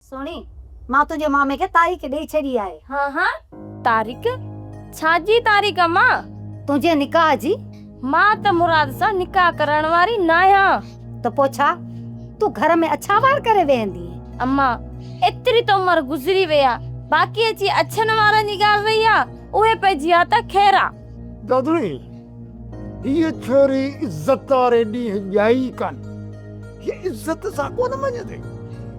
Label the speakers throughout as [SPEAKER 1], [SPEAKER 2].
[SPEAKER 1] سهڻي، مان تنهنجي مامي کي تاريخ ڏئي ڇڏي آهي. ها ها،
[SPEAKER 2] تاريخ؟ ڇا جي تاريخ امان؟ تنهنجي نڪاح
[SPEAKER 1] جي. مان ته
[SPEAKER 2] مراد سان نڪاح ڪرائڻ واري ناهيان. ته پوء ڇا؟
[SPEAKER 1] تون گهر ۾ اڇا وار ڪري ويهندينء. امان،
[SPEAKER 2] ايتري ته عمر گذري وئي آ، باقي اچي اڇن وارن جي ڳالهه رهي آ، اهي پئجي ها ته خير آ. دادوڙي،
[SPEAKER 3] هيء ڇوري عزت واري ڏينهن ڄائي ڪانه. هيء عزت سان ڪونه مڃيندي.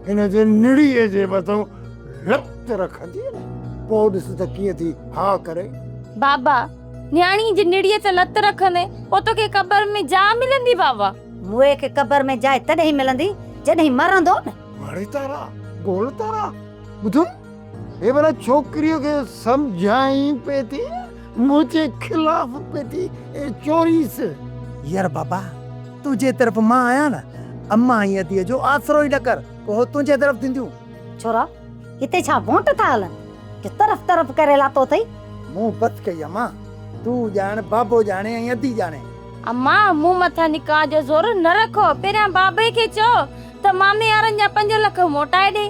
[SPEAKER 3] هن جي نڙيء جي مٿو لت رکندي نه. پوء ڏس ته ڪيئن ٿي ها ڪري. بابا،
[SPEAKER 2] نياڻيء جي نڙيء تي لت رکندين، پوء توکي قبر ۾ جاء ملندي بابا. موئي کي قبر
[SPEAKER 1] ۾ جاء تڏهن ملندي، جڏهن مرندو نه. وڙي تارا،
[SPEAKER 3] گول تارا، ٻڌ. هي ڀلا ڇوڪريء کي سمجهائين پئي ٿي منهنجي خلاف پئي ٿي چوريس. يار بابا
[SPEAKER 4] تنهنجي طرف مان آهيان نه امان ۽ اديء جو آسرو ئي نه ڪر پوء هو تنهنجي طرف ٿينديون. ڇورا هتي
[SPEAKER 1] ڇا وونٽ ٿا هلن جو طرف طرف ڪري لاتو اٿئي. مون بس ڪئي
[SPEAKER 4] امان تون ڄاڻ بابو ڄاڻي ۽ ادي ڄاڻي. امان مون
[SPEAKER 2] مٿان نڪاح جو زور نه رکو پهريان بابي کي چئو ته ماميارن جا پنج لک موٽائي ڏي.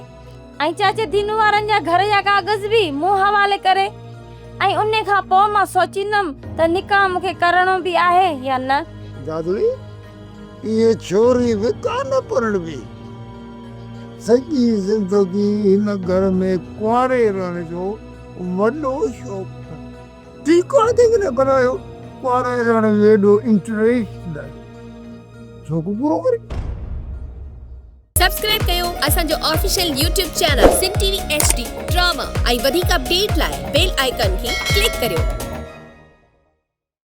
[SPEAKER 2] ۽ چاچي دينو وارن جا گهر جا ڪاغذ به مون حوالي ڪري ۽ انهي کان پوء مان سوچيندم ته نڪاح مون کي ڪرڻو به آهي يا نه. دادڙي،
[SPEAKER 3] اهي ڇوري به ڪا نه پرڻبي. سڄي زندگي هن گهر ۾ ڪنواري رهڻ جو وڏو شوق اٿس. ٺيڪ آهي جيڪڏهن بنايو ڪنواري رهڻ ۾ ايڏو انٽريسٽ نه آهي. شوق پورو ڪري. سبسڪرائب
[SPEAKER 5] ڪيو اسان جو official YouTube channel Sindh T V H D drama ۽ وڌيڪ اپڊيٽ لاء بيل آئيڪان کي ڪلڪ ڪريو.